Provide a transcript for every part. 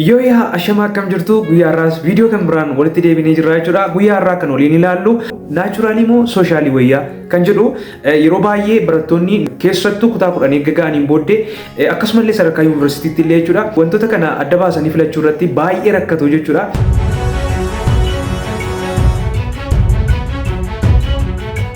Yoo yaa ashamaa akkam jirtu guyyaa irraas viidiyoo kan biraan walitti deebinee jirra jechuudha. Guyyaa irraa kan waliin ilaallu naachuraalii moo sooshaalii wayyaa kan jedhu yeroo baay'ee barattoonni keessattuu kutaa kudhan eegga ga'aniin booddee akkasumallee sadarkaa yuunivarsiitiitti illee jechuudha wantoota kana adda baasanii filachuu irratti baay'ee rakkatu jechuudha.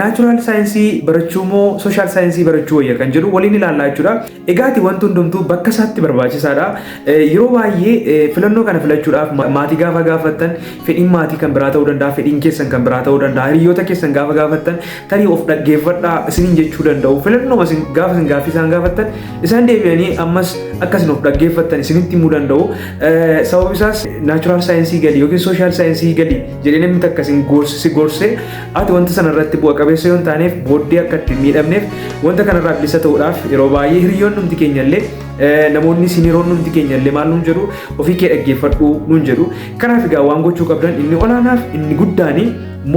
Naachuraal saayinsii barachuu moo sooshaal saayinsii barachuu wayya kan jedhu waliin ilaallaa jechuudha. Egaati wanti hundumtuu bakka isaatti barbaachisaadha. Yeroo baay'ee filannoo kana filachuudhaaf maatii gaafa gaafattan fedhiin maatii kan biraa ta'uu danda'a, fedhiin keessan kan biraa ta'uu danda'a, hiriyoota keessan gaafa gaafattan tarii of dhaggeeffadhaa isiniin jechuu danda'u. Filannoo gaafa isin gaaffii isaan gaafattan isaan deebi'anii ammas akka isin of dhaggeeffattan isinitti himuu danda'u. Sababi isaas naachuraal saayinsii galii yookiin sooshaal saayinsii galii jedhee namni takka isin gorse Ati wanta sana irratti bu'a qabeessa yoo hin taaneef booddee akka itti hin miidhamneef wanta kanarraa bilisa ta'uudhaaf yeroo baay'ee hiriyoonnumti keenya illee eh, namoonni isin hiriyoonnumti keenya illee maal nuun jedhu ofii kee dhaggeeffadhu nuun jedhu kanaaf egaa waan gochuu qabdan inni olaanaaf inni guddaanii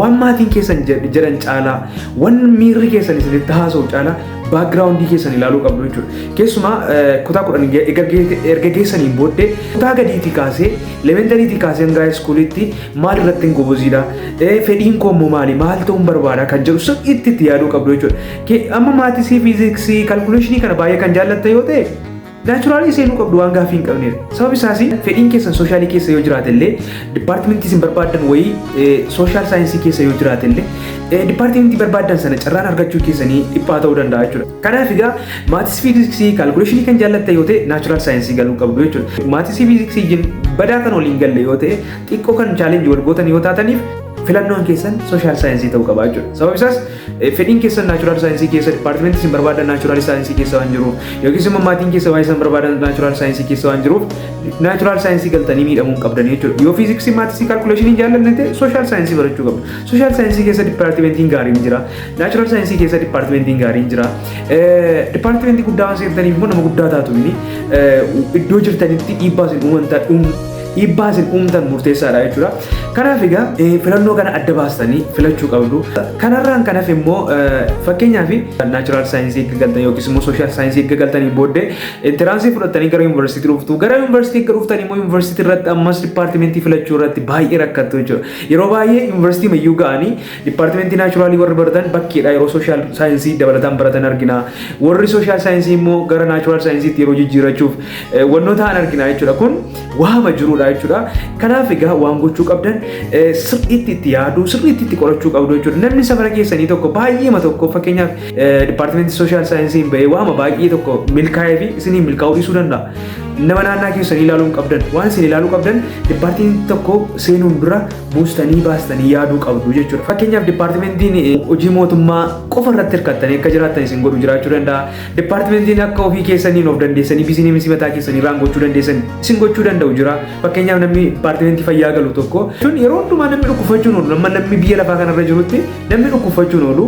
waan maatiin keessan jed- jedhan caalaa waan miirri keessan isinitti haasa'u caalaa baakgiraawundii keessan ilaaluu qabdu jechuudha. Keessumaa eh, kutaa kudhan erga geessaniin booddee kutaa gadiitii kaasee elementariitii kaasee hanga iskuuliitti maal irratti hin goboziidha fedhiin koo immoo maali maal ta'uun barbaada kan jedhu sirriitti itti yaaduu qabdu jechuudha. Amma maatisii fiiziksii kalkuleeshinii kana baay'ee kan jaallatte yoo ta'e naachuraalii seenuu qabdu waan gaaffii hin qabneef. Sababni isaas fedhiin keessan sooshaalii keessa yoo jiraate illee dipaartimentii isin barbaadan wayii sooshaal saayinsii keessa yoo jiraate illee dipaartimentii barbaadan sana carraan argachuu keessanii dhiphaa ta'uu danda'a jechuudha. Kanaaf egaa maatis fiiziksii kaalkuleeshinii kan jaallatte yoo ta'e naachuraal saayinsii galuu qabdu jechuudha. Maatis fiiziksii badaa kan waliin galle yoo ta'e Xiqqoo kan challenge wal gootan yoo taataniif filannoon keessan social saayinsii ta'uu qaba jechuudha. Sababni isaas fedhiin keessan naachuraal saayinsii keessa dipaartimentii isin barbaadan naachuraal saayinsii keessa waan jiruuf yookiis immoo maatiin keessa waan isin barbaadan naachuraal saayinsii keessa waan jiruuf naachuraal saayinsii galtanii miidhamuu hin qabdan jechuudha. Yoo fiiziksii maatisii kaalkuleeshinii jaallanne ta'e social saayinsii barachuu qabdu. Social saayinsii keessa dipaartimentiin gaariin jira. Naachuraal saayinsii keessa dipaartimentiin gaariin jira. Dipaartimentii guddaa waan seentaniif immoo nama guddaa taatu iddoo jirtanitti dhiibbaa isin uuman dhiibbaa isin uumtan murteessaadha jechuudha. Kanaaf egaa filannoo kana adda baastanii filachuu qabdu. Kanarraan kanaaf immoo fakkeenyaaf naachuraal saayinsii eegga galtan yookiis immoo sooshaal saayinsii eegga galtanii booddee intiraansii fudhattanii gara yuunivarsiitii dhuftu. Gara yuunivarsiitii eegga dhuftanii immoo yuunivarsiitii irratti ammas dipaartimentii filachuu irratti baay'ee rakkattu jechuudha. Yeroo baay'ee yuunivarsiitii mayyuu ga'anii dipaartimentii naachuraalii warri baratan bakkeedha yeroo sooshaal saayinsii dabalataan baratan argina. Warri sooshaal saayinsii immoo gara naachuraal saayinsiitti yeroo jijjiirachuuf wantoota ta'an argina jechuudha. Kun waama jirudha jechuudha. Kanaaf egaa waan gochuu qabdan sirriitti itti yaaduu sirriitti itti qorachuu qabdu jechuudha. Namni safara keessanii tokko baay'eema tokko fakkeenyaaf dipaartimentii sooshaal saayinsiin ba'ee waama baay'ee tokko milkaa'ee fi isinii milkaa'uu dhiisuu danda'a. Nama naannaa keessanii ilaaluu hin qabdan waan isin ilaaluu qabdan dipaartiin tokko seenuun dura buustanii baastanii yaaduu qabdu jechuudha. Fakkeenyaaf dipaartimentiin hojii mootummaa qofa irratti hirkattanii akka jiraattan isin godhu jiraachuu danda'a. Departmentiin akka ofii keessaniin of dandeessanii bizineemisi mataa keessanii raan gochuu dandeessan isin gochuu danda'u jira. Fakkeenyaaf namni departmentii fayyaa galu tokko sun yeroo hundumaa namni dhukkubfachuun oolu amma namni biyya lafaa kanarra jirutti namni dhukkubfachuun oolu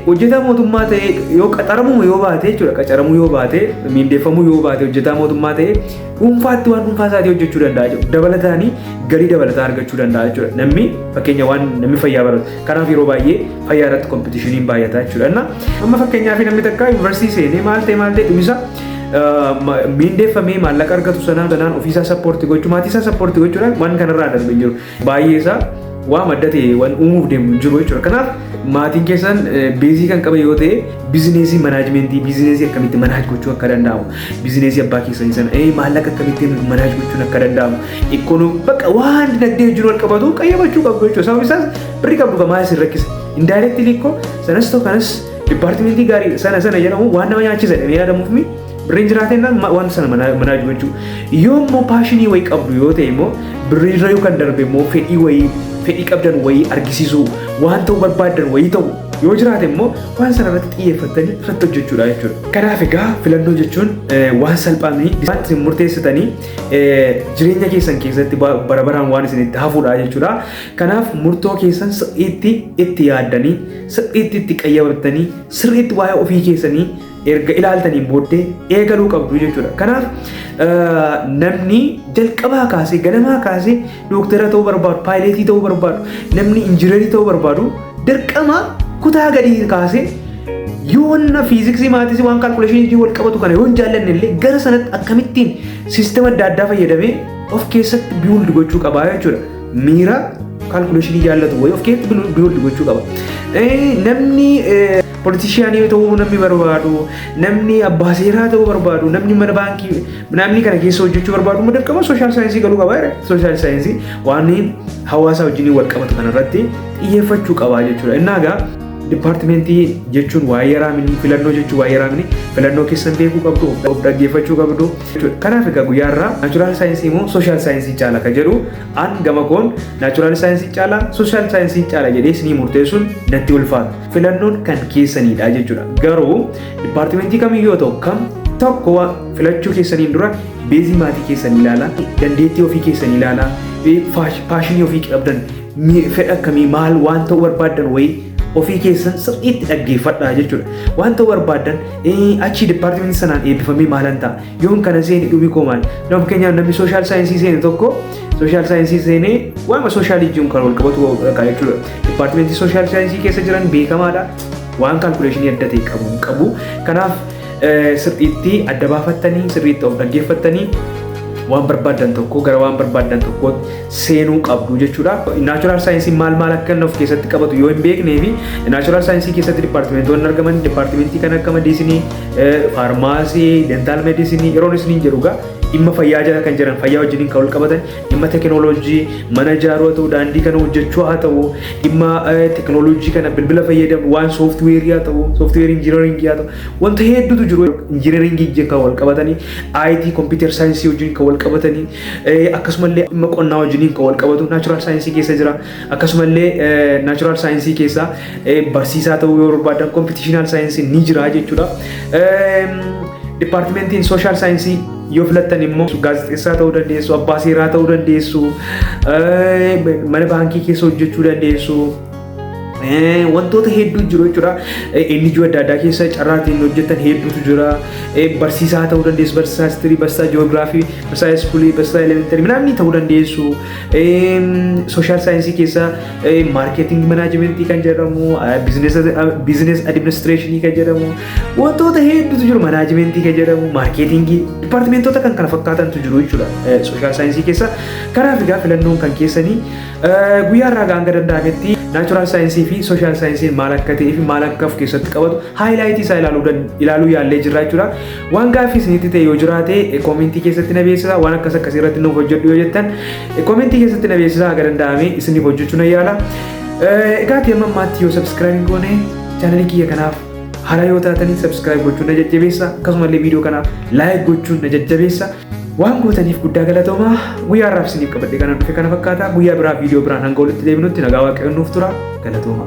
hojjetaa mootummaa ta'ee yoo qaxaramuu yoo baate jechuudha qacaramuu yoo baate miindeeffamuu yoo baate hojjetaa mootummaa ta'ee dhuunfaatti waan dhuunfaa isaatii hojjechuu danda'a jechuudha. Dabalataanii galii dabalataa argachuu danda'a jechuudha. Namni fakkeenya waan namni fayyaa baratu Kanaaf yeroo baay'ee fayyaa irratti kompitishiniin baay'ata jechuudha. Amma fakkeenyaaf namni takka yuunivarsiitii seenee maal ta'e maal ta'e dhumisa miindeeffamee maallaqa argatu sanaa sanaan ofiisaa sappoorti gochuu maatiisaa sappoorti gochuudhaan waan kanarraa darbe hin jiru. Baay'eesaa waa madda ta'e waan uumuuf deemu hin jiru jechuudha. Kanaaf maatiin keessan beezii kan qaban yoo ta'e bizineesii manaajimentii bizineesii akkamitti manaaj gochuu akka danda'amu bizineesii abbaa keessanii sana maallaqa akkamittiin manaaj gochuun akka danda'amu Ikkonoom bakka waan dinagdee wajjin wal qabatu qayyabachuu qabdu jechuudha. Sababni isaas birri qabdu kan maal isin rakkisa. Indaayireektii liikkoo sanas ta'u kanas dipaartimentii gaarii sana sana jedhamu waan nama nyaachisa jedhamee yaadamuuf mi birriin jiraatee waan sana manaa jiru jechuudha. Yoo immoo paashinii wayii qabdu yoo ta'e immoo birrii irra yookaan darbe immoo fedhii wayii fedhii qabdan wayii argisiisuu waan ta'uu barbaadan wayii ta'u yoo jiraate immoo waan sana irratti xiyyeeffattanii irratti hojjechuudha jechuudha. Kanaaf egaa filannoo jechuun waan salphaa miti. Isaan murteessitanii jireenya keessan keessatti bara baraan waan isin itti hafuudha jechuudha. Kanaaf murtoo keessan sirriitti itti yaaddanii, sirriitti itti qayyabattanii, sirriitti waa'ee ofii keessanii erga ilaaltaniin booddee eegaluu qabdu jechuudha. Kanaaf namni jalqabaa kaasee ganamaa kaasee Dooktara ta'uu barbaadu, paayileetii ta'uu barbaadu, namni injiinarii ta'uu barbaadu dirqama kutaa gadii kaasee yoo wanna fiiziksii maatis waan kaalkuleeshinii wal qabatu kana yoo hin jaallanne illee gara sanatti akkamittiin siistema adda addaa fayyadamee of keessatti biild gochuu qaba jechuudha. Miira kaalkuleeshinii jaallatu wayii of keessatti biild gochuu qaba. Namni Politishiyaanii yoo ta'uu namni barbaadu, namni abbaa seeraa ta'uu barbaadu, namni mana baankii namni kana keessa hojjechuu barbaadu immoo dirqama sooshaal saayinsii galuu qaba. Sooshaal saayinsii waan hawaasaa wajjin wal qabatu kanarratti xiyyeeffachuu qaba jechuudha. Innaa egaa dipaartimentii jechuun waa yaraamini filannoo jechuun waa yaraamini filannoo keessan beekuu qabdu of dhaggeeffachuu qabdu jechuudha. Kanaaf egaa guyyaa irraa naachuraal saayinsii immoo sooshaal saayinsii caala kan jedhu an gama koon naachuraal saayinsii caala sooshaal saayinsii caala jedhee isinii murteessuun natti ulfaata. filannoon kan keessaniidha jechuudha. Garuu dipaartimentii kamiyyuu yoo ta'u kam tokko filachuu keessaniin dura beezii maatii keessan ilaalaa, dandeettii ofii keessan ilaalaa, paashinii ofii qabdan, fedha akkamii maal waan ta'uu barbaaddan wayii ofii keessan sirriitti dhaggeeffadhaa jechuudha. Waan ta'uu barbaaddan achii dipaartimentii sanaan eebbifamee maalan ta'a? Yoon kana seeni dhumi koo maal? Nama fakkeenyaaf namni sooshaal saayinsii seene tokko sooshaal saayinsii seenee waanuma sooshaal ijjiin kan wal qabatu qaba jechuudha. Dipaartimentii sooshaal saayinsii keessa jiran beekamaadha. Waan kaalkuleeshinii adda ta'e qabu hin qabu. Kanaaf sirriitti adda baafattanii sirriitti of dhaggeeffattanii waan barbaadan tokko gara waan barbaadan tokkootti seenuu qabdu jechuudha. Naachuraal saayinsii maal maal akka inni of keessatti qabatu yoo hin beeknee fi naachuraal saayinsii keessatti dipaartimentoonni argaman dipaartimentii kan akka madiisinii faarmaasii, dentaal meedisinii yeroon isiniin jedhu egaa dhimma fayyaa jala kan jiran fayyaa wajjiniin kan wal qabatan dhimma teekinooloojii mana ijaaruu haa ta'u daandii kana hojjechuu haa ta'u dhimma teekinooloojii kana bilbila fayyadamu waan sooftiweerii haa ta'u sooftiweerii injiinaringii haa ta'u wanta hedduutu jiru injiinaringii wajjin kan wal qabatanii IT kompiitar saayinsii wajjin kan wal qabatanii akkasumallee dhimma qonnaa wajjiniin kan wal qabatu naachuraal saayinsii keessa jira Akkasuma illee naachuraal saayinsii keessaa barsiisaa ta'uu yoo barbaadan kompitiishinaal saayinsii ni jira jechuudha. Dipaartimentiin sooshaal saayinsii yoo filattan immoo gaazexeessaa ta'uu dandeessu, abbaa seeraa ta'uu dandeessu, mana baankii keessa hojjechuu dandeessu. Wantoota hedduu jiru jechuudha. Eenyuyyuu adda addaa keessa carraatiin hojjetan hedduutu jira. Barsiisaa ta'uu dandeessu, barsiisaa histirii, barsiisaa ji'oogiraafii, barsiisaa iskuulii, barsiisaa elementarii, midhaan ta'uu dandeessu. Sooshaal saayinsii keessa maarkeeting manaajimentii kan jedhamu, biizinees adiministireeshinii kan jedhamu, wantoota hedduutu jiru manaajimentii kan jedhamu, maarkeetingii, dipaartimentoota kan kana fakkaatantu jiru jechuudha sooshaal saayinsii keessa. Kanaaf egaa filannoon kan keessanii guyyaa irraa hanga danda'ametti naachuraal saayinsii fi sooshaal saayinsiin maal akka ta'ee fi maal akka of keessatti qabatu haayilaayitii isaa ilaaluu yaallee jirra jechuudha. Waan gaaffii isinitti ta'e yoo jiraate koomentii keessatti na beeksisa waan akkas akkasii irratti nuuf hojjedhu yoo jettan koomentii keessatti na beeksisa haga danda'ame isiniif hojjechuu na yaala. Egaa ati amma ammaatti yoo sabskiraayib hin goone chaanalii kiyya kanaaf haaraa yoo taatanii sabskiraayib gochuun na jajjabeessa akkasumallee viidiyoo kanaaf laayik gochuun na jajjabeessa. Waan gootaniif guddaa galatoomaa guyyaa har'aaf isiniif qabadhe kana dhufe kana fakkaata guyyaa biraa viidiyoo biraan hanga walitti deebinutti nagaa waaqayyoon nuuf tura galatoomaa.